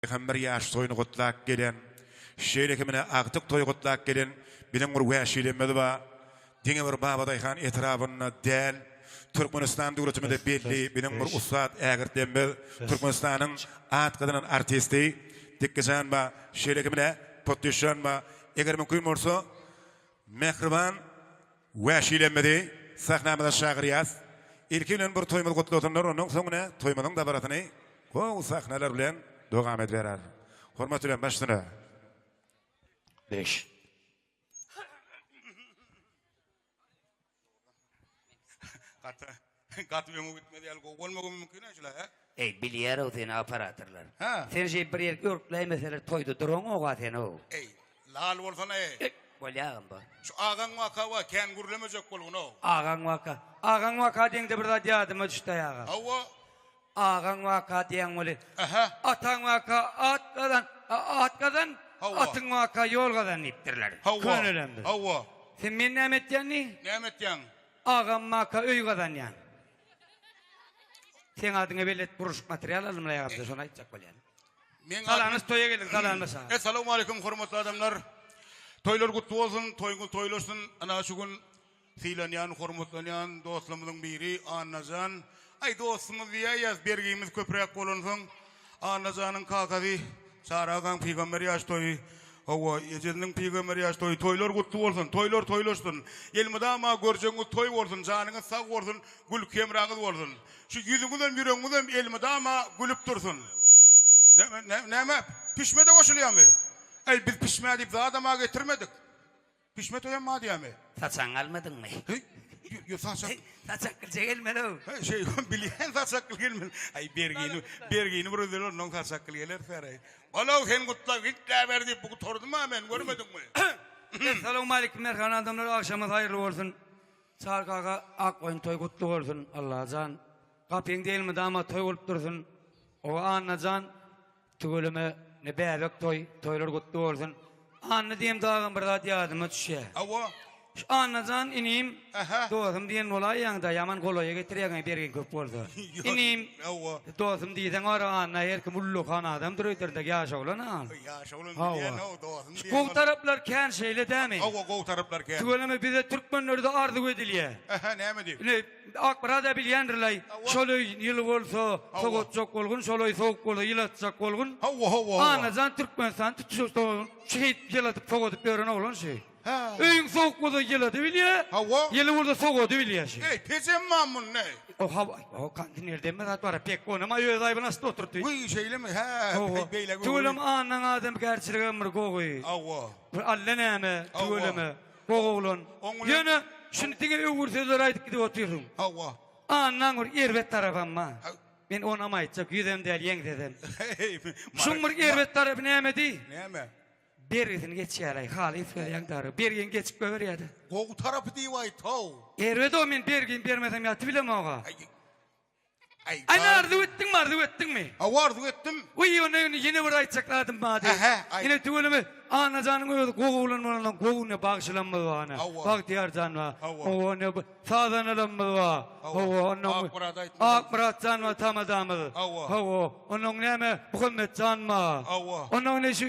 Hem bir ýaş toýuny gutlap gelen, şeýle hem ine agtyk toýy gutlap gelen biziň bir wäşilerimiz bar. Diňe bir Babadaýhan etrabynda däl, Türkmenistan döwletimizde belli biziň bir ussat ägirtlerimiz, Türkmenistanyň at gazanan artisti Dikgijan bar. Şeýle hem ine Potdüşjan bar. Eger mümkin bolsa, mähriban. Wäşilemmizi sahnamyza çagyrýas. Ilki bilen bir toýumyzy gutlasynlar, ondan soň ine toýumyzyň dabarasyny gowy sahnalar bilen dowam edibereris. Hormat bilen baş üstüne. Beş. Gaty Gaty öňe gitmez ýaly gowy bolmagam mümkin a şula he. Eý bilýärow seni operatorlar. Hä. Sen şeýip bir ýerki örkläýmeseler toýda duraňoga senow. Eý lal bolsana eý. Eý bolýagam bu. Şu agaň waka wa kän gürlemejek bolgunow. Agaň waka. Agaň waka diýeňde bir zat ýadyma düşdäý aga. Hawa. Agaň waka diýen weli. Ähä. Ataň waka at gazan, a at gazan, Hawa. atyň waka ýol gazan diýipdirler. Hawa. Könelerimiz. Hawa. Sen meni näme etýän diý? Näme etýäň? Agam maka öý gazanýan. Seň adyňa belet guruşyk material alymlaýa gamda şony aýtjak bolýan. Meň Salamyz toýa geliň salamyz saňa. Essalamu aleýkum hormatly adamlar. Toýlar gutly bolsun, toýuňyz toýlaşsyn. Ana şu gün sylanýan, hormatlanýan dostlarymyzyň biri Annajan Aý dostuňyz diýäýýäs bergimiz köpräk bolansoň Annajanyň kakasy Çary agaň pygamber ýaş toýy Howwa ejesiniň pygamber ýaş toýy toýlar gutly bolsun toýlar toýlaşsyn elmydama görjegiňiz toý bolsun janyňyz sag bolsun gülki hemraňyz bolsun şu ýüzüňizem ýüregiňizem elmydama gülüp dursun Näme näme pişmede goşulýamy Aý biz pişme diýip zadama getirmedik. Bişmet öýem bar diýämi? Saçagyňy almadyňmy? Heý, ýo-ýo, saçak. Saçakgylja gelmeli-ow. He, şeý, bilýän saçakgyl gelmeli. Aý, bergini, bergini bir özel ol, noň saçakgyl geler säreý. Bol-ow, sen gutlag, gitläber diýip, bu gutardym-a men, görmediňmi? Essalawmaleýkim, mähribän adamlar, agşamyz haýyrly bolsun. Çary kaka, Akgoýun toý gutly bolsun, Allajan. Gapyň dälmi, damat toý bolup dursun. Owa, Annajan. Tüweleme ne bäbek toý, toýlar gutly bolsun. Anna diýem dagam bir zat ýadyma düşýä. Hawa. Şu Annajan inim, Aha. dosum diýen bolaýýaňda ýaman golaýa getirýäňä bergiň köp bolsa. Ýok, Inim, hawa. dosum diýseň bar Anna her kim ullakan adamdyr öýderiňde ýaş oglan-a. Ýaş oglan Hawa. bilýän-ow, dosum Şu diýen gowy ol. taraplar kän şeýle dämi? Hawa, gowy taraplar kän. Tüweleme bize türkmenlerde arzuw edilýä. Aha, näme diýip? Ine Ak Braza bilýändirlaý şolaý ýyly bolsa sogatjak bolgun şolaý sowuk bolsa ýylatjak bolgun. Howwa howwa howwa. Annajan Türkmenistan tutuşykdan şu hit ýyladyp sogadyp ýören oglan şi. Hä. Öýüň sowuk bolsa ýylady bilýä. Howwa. Ýyly bolsa sogady bilýä şi. Eý pejem mam munda eý. O hawa o kondiner deme zat bara pek onam aý öz aýbyny astyda oturdy. Wiý şeýlemi hä Howwa. beýle göwreli. Tüweleme annaň adamkärçiligi hem bir gowy. Howwa. Bir allanäme Howwa. tüweleme. Goh oglan. Ýöne şuny diňe öwür sözler aýdyp gidip otyrsyň. Hawa. Annaň bir erbet tarapam bar. Men onam aýtjak, ýüzem däl, ýeňsesem. Şuň bir erbet tarapy nämedi? Näme? Bergisini geçýäraý, halys berýäň dagy. Bergiň geçip goýberýä-de. Gowy tarapy diýip aýt-how. Erbet-ow, men bergimi bermesem ýatybilemog-a. Aýna arzuw etdiňmi, arzuw etdiňmi? Hawa, arzuw etdim. Wiý, onda indi ýene bir aýtjak zadym bar diýip. Hä-hä, aýt. Ine, tüweleme, Annajanyň özi gowy oglan bolansoň, gowuny bagşylamyz bar ine. Hawa. Bagtyýar jan bar. Hawa. Hawa, ine, bu sazanalarymyz bar. Hawa. Hawa, ondan bu- Akmyrat aýtmaz. Akmyrat jan bar, tamadamyz. Hawa. Hawa, ondan näme, Muhammet jan bar. Hawa. Ondan ine şu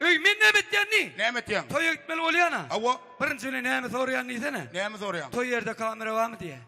Öý, men näme etýänini? Näme etýäň? Toýa gitmeli bolýan-a. Hawa. Birinji bilen näme soraýan diýsene? Näme soraýaň? Toý ýerde kamera barmy diýýä.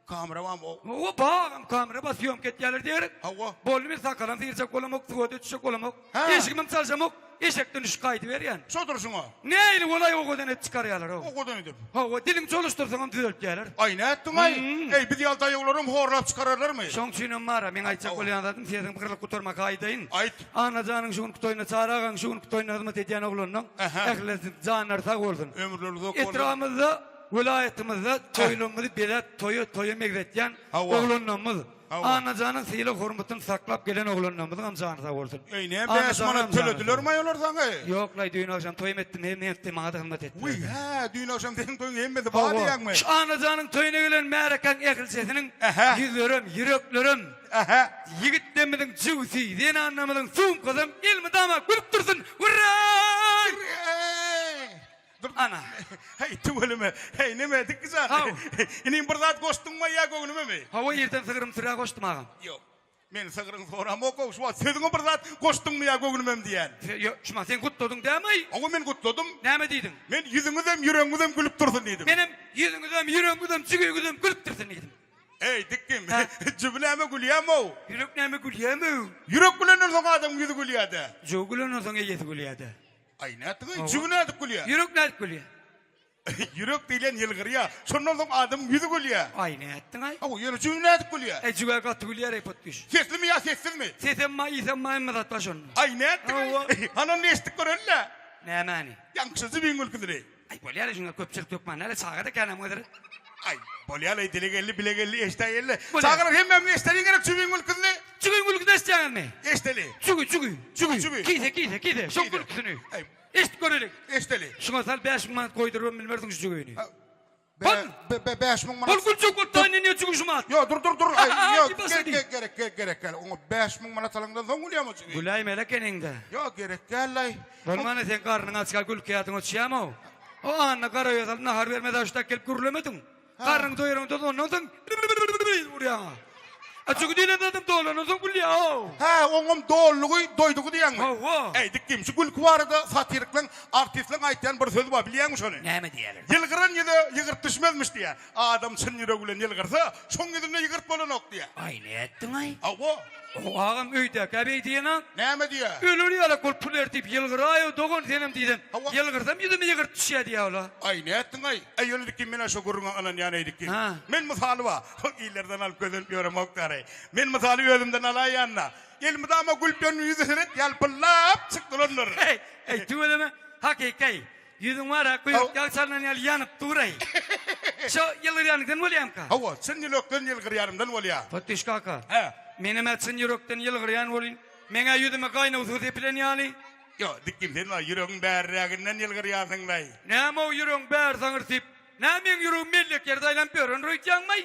Kamera barmy? O. Hawa, bagam kamera bar, sýomka etýärler diýeris. Hawa. Boldy, men sakalam syrjak bolamok, suwada düşjek bolamok. Hä. Eşigimem çaljamok. Eşekden düşüp gaýdyberýän. Şo durşuňa. Nähili bolaý owadan edip çykarýarlar-ow. Owadan edip. Hawa, diliňi çoluşdyrsaňam düzeltýärler. Aý, nätdiň-aý? Eý, biz ýaly daýawlaram horlap çykararlarmy? Şoň üçinem bar-a, meň aýtjak bolýan zadym, sesiňi gyrlyp gutarma, gaýdaýyn. Aýt. Annajanyň şu günki toýuna Çary agaň şu günki toýuna hyzmat edýän oglanynyň Aha. ählisiniň janlary sag bolsun. Ömürleri uzak bolsun. Etrabymyzda, welaýatymyzda toýlarymyzy beläp, toýa toýa megzetýän Hawa. oglanlarymyz, Hawa. Annajanyň sylag hormatyny saklap gelen oglanlarymyzyň hem jany sag bolsun. Eý, näme 5 Annajanyň manat hem jany sag töledilermi-aý olar saňa? bolsun. Ýok laý düýn agşam toýum etdim, hemme etdi, maňa-da hyzmat Wiý, etdiler. hä, düýn agşam seniň toýuň hemmesi bar Hawa. diýýäňmi? Şu Annajanyň toýuna gelen märekäň ählisiniň Aha. ýüzlerem, ýüreklerem Aha ýigitdemiziň jüwsi zenanamyzyň sumkasam elmydama gülüp dursun Wurraý! Dur Ana. Heý tüweleme. Heý neme dik gyzan. Haw. Inim bir zat goşduňmy ýa göwnümemi? Hawa irden sygrym sürä goşdum agam. Ýok. Men sygryň soramokgow şu wagt sözüňe bir zat goşduňmy ýa göwnümem diýýän. Se ýo şuma sen gutladyň dämiy? Hawa men gutladym. Näme diýdiň? Men ýüzüňizem ýüregiňizem gülüp dursun diýdim. Menem ýüzüňizem ýüregiňizem jügegiňizem gülüp dursun diýdim. Eý, dikdim. Jübi näme gülýäm-ow? Ýürek näme gülýäm-ow? Ýürek gülenden soň adamyň ýüzi gülýär-dä. Jübi gülenden soň eýesi gülýär-dä. Aý, nätdigiň-eý? Jübi nädip gülýär? Ýürek nädip gülýär? Ýürek diýlen ýylgyrýar. Şondan soň adamyň ýüzi gülýär. Aý, nätdiň-aý? Hawa, ýöne jübi nädip gülýär? Eý, jübi-ä gaty gülýär-eý, potgüş. Seslimi ýa sessizmi? Sesem bar, ýsem bar, hemme zat bar şonda. Aý, nätdigiň-eý? Hanan eşitdik göreli-le. Nämäni? Ýaňky şu jübiň gülküsini. Aý bolýar-aý şuňa köpçülik hökman näle çaga-da kän hem özleri. Aý bolýar-aý dile geldi bile geldi eşdä geldi. Bolýar. Çagalar hemmämiz eşdeliň gerek çübiň gülküsini. Çübiň gülküsini eşitýäňizmi? Eşdeli. Çübi çübi Çübi, çübi. çübi. Kise kise kise şoň Kise. gülküsini. Aý Eşit göreliň. eşdeli. Şuňa sal bäş müň manat goýdurybam bilmersiň şu jügüni. Hol! Be, be, bäş müň manat. Hol gülçek bolup daýy neneýe jügüşim at. Ýok, dur, dur, dur. Aý, ýok, gerek, gerek, gerek, gerek, gerek däl. Oňa bäş müň manat alandan soň gülýämi o jübi? Güläýmeli ekeniň-dä. Ýok, gerek däl, aý. Bolmana sen garnyň açka gülkäýadyň öçýäm-ow. O anna garaöýe nahar bermez aşdak gelip gürlemediň. Garnyňy doýuraňda ondan soň urýaň-a. A şu diýlen zadyň dolanyny soň gülýär-ow. Hä, oňam doldugy, doýdugy diýýäňmi? Hawa. Äý, dik diýiň, şu gülki barada satirikleň, artistleň aýtýan bir sözi bar, bilýäňmi şony? Näme diýýärler? Ýylgyran ýüze ýygyrt düşmezmiş diýýär. Adam çyn ýüregi bilen ýylgyrsa, şoň ýüzünde ýygyrt bolanok diýýär. Aý, nätdiň-aý? Hawa. Ow, agam öýdäki-ä beý diýen-aň. Näme diýýär? Öler ýalak bolup pul ertip ýylgyraý-ow, dogan, senem diýsem, Hawa. ýylgyrsam ýüzüme ýygyrt düşýär diýýär ol-a. Aý, nätdiň-aý? Äý, ýöne dik diýiň, men-ä şo gürrüňe ynanýan eý, dik diýiň. Hä. Men mysaly bar. Köp illerden alyp gözelip ýöremoklary. Men mysaly özümden alaýan-da. Il mydama gülüp ýören ýüzi seret ýalpyldap çykdyrandyr. Heý, heý, tüweleme, hakyky. Ýüzüň bar-a, guýruk ýag çalnan ýaly ýanyp dur-aý. Şo ýylgyrýanyňdan bolýamyka? Hawa, çyn ýürekden ýylgyrýanymdan bolýa. Potdyş kaka. Hä? Menem-ä çyn ýürekden ýylgyrýan bolyn. Meň-ä ýüzüme gaýnaw suw sepilen ýaly. Ýok, dikim, sen-ä ýüregiň bärräginden ýylgyrýansyň-laý. Näme-ow ýüregiň bäri zaňyrsyp? Nä meň ýüregim mellek ýerde aýlanyp ýör, ynr aýtýaňmaý?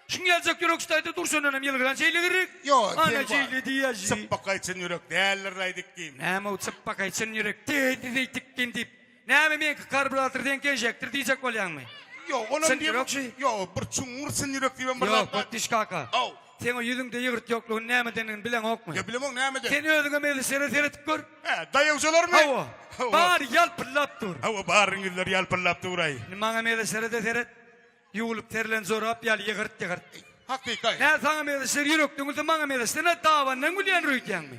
Şuň ýaljak ýürek ştaýda durşundanam ýylgyran şeýle girrik. Ýo, Ana sen şeýle diýýä şi. Çypbakaý çyn ýürek däldir aýdyk kim? Näme u çypbakaý çyn ýürek däldir aýdyk kim diýip, näme meňki karburator seňki ežekdir diýjek bolýaňmy? Ýo, onam diýemok. Ýo, bir çuňňur çyn ýürek diýibem bir zat bar. Ýo, Otdiş kaka. Ow. Seň o ýüzüňde ýygyrt ýoklugyny nämedendigini bileňokmy? Ýa bilemok nämeden? Sen özüňem Elişere seredip gör. Hä, daýawjalarmy? Hawa. Hawa. Bary ýalpyldap dur. Hawa, barynyň ýüzleri ýalpyldap dur-aý. Indi maňam Elişere-de seret. Ýuwlup serilen jorap ýaly ýygyrt-ýygyrt. Hakyky-aý. Nä saňam Elişer ýürekden gülse, maňam Elişden-ä dabandan gülýändir öýdýäňmi?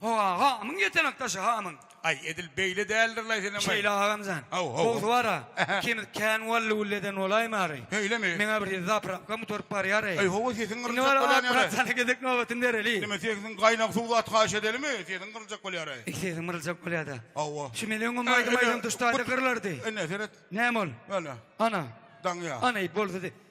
Ho-a, hamyň ýetenek daşy, hamyň. Aý, edil beýle däldir-laý senem-aý. Şeýle agam-jan. Haw-haw. Bogdy bar-a. Ähä. Ikimiz kän wally-wully eden bolaýmary? Öýlemi? Meň-ä bir ýedi zaprapkam gutaryp barýar-eý. Aý, ho-o, sesiň Indi gyryljakka bar-a, dänýär-eý. Akbratjana gezek nobatyny bereli. Neme, sesiň gaýnag suw zat haýyş edelimi? Sesiň gyryljakka bolýar-eý. Eý, sesiň gyryljakka bolýar-da. Haw-a. Şu meniň öňüm aýdym aýdan duşdaýda gyrylardy. Ine, seret. Näme ol? Ene. Ana. Daňýa. Ana, eý, boldy-de.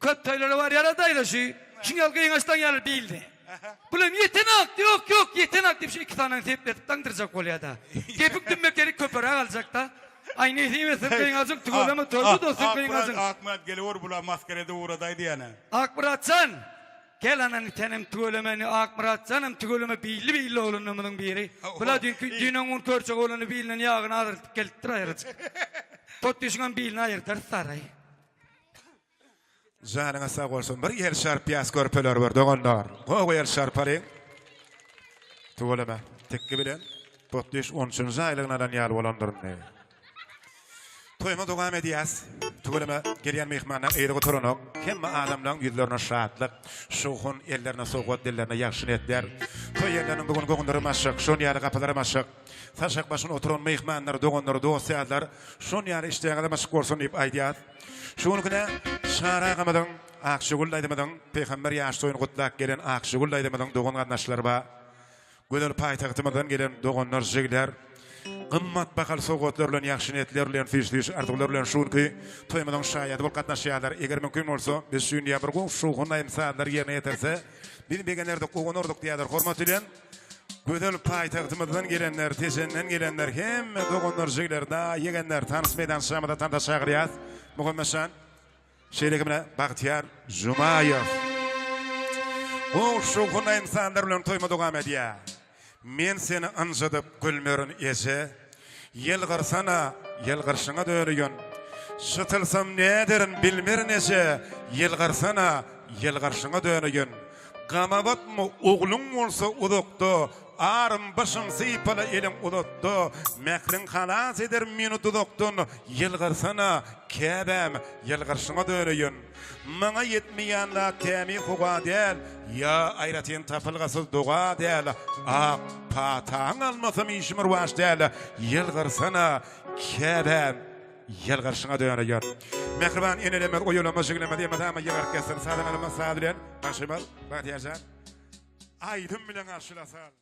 Köp toýlara barýara daýza şu şu ýol gyňaçdan ýaly diýildi. Bulam ýetenok, ýok ýok ýetenok diýip şu iki sanany sepletip daňdyrjak bolýada. Kepik dümmekeli köperäk aljakda. Aý nesip etsin gyňajyk tüweleme toýda dostum gyňajyň. Ak brat geliwer bula maskara edip ugradaý diýýänä. Ak bratjan gel anaňy senem tüweleme indi ak bratjanam tüweleme billi billi oglanlarymyzyň biri. Bula düýnki düýn-öň gün körçek oglany bilinden ýagyny azaldyp gelipdir aýryjyk. Potdüşiňem bilini aýyrdarys saraý. Janyňa sag bolsun. Bir ýel şarp ýas körpeler bar doganlar. Gowy ýel şarpalyň. Tuwalama. Tekki bilen Potdiş 13-nji aýlygyny alan ýaly bolandyr indi. Toýumy dowam edýäs. Tuwalama gelýän myhmanlar eýri gutaranok. Hemme adamlaryň ýüzlerine şatlyk, şowhun, ellerine sowgat, dillerine ýagşy niýetler. Toý ýerleriniň bu gün goňundyrym açyk, şonuň ýaly gapylarym açyk. Saşak başyna oturan myhmanlar, doganlar, dost-ýarlar şol ýaly işleriňiz myşk bolsun diýip aýdýarys. Şu günki-de Çary agamyzyň, Akjigül daýzamyzyň Pygamber ýaş toýuny gutlap gelen Akjigül daýzamyzyň dogan-garyndaşlary bar. Gözel paýtagtymyzdan gelen doganlar, jigler gymmat bahaly sowgatlar bilen, ýagşy niýetler bilen, süýş-süýş arzuwlar bilen şu günki toýumyzyň şaýady bolup gatnaşýarlar. Eger mümkin bolsa, biz şu gün ýa bir gowy şowhun aýdym-sazlary ýerine ýetirse, biz begenerdik, guwanardyk diýýärler. Hormat bilen. Gözel paýtagtymyzdan gelenler, Tejenden gelenler, hemme doganlar, jigler, daýy, ýegenler tans meýdançamyza tansa çagyrýas. Muhammetjan, şeýle ki bilen Bagtyýar Jumaýew. Bu şowhunly insanlar bilen toýma dowam edýär. Men seni ynjydyp gülmerin eje. Ýylgyrsana, ýylgyrşyňa döreýän. Şytylsam näderin bilmerin eje, Ýylgyrsana, ýylgyrşyňa döreýän. Gama batma, ogluň bolsa uzakda, Arym başym sypala eliň uzatda, Mähriň halas eder meni duzakdan, Ýylgyrsana, käbäm, ýylgyrşyňa döreýän. Maňa ýetmeýän zat tämi howa däl, Ýa aýratyn tapylgasyz doga däl, Ak pataň almasam işim rwaç däl, Ýylgyrsana, käbäm, ýylgyrşyňa döneýär. Mähriban enelerimiz oýulamaz, jiglemez, emma tama ýygyryp geçsin. Sazandarymyz saz bilen garşylaýmaly, Bagtyýarjan. Aýdym bilen garşylasal.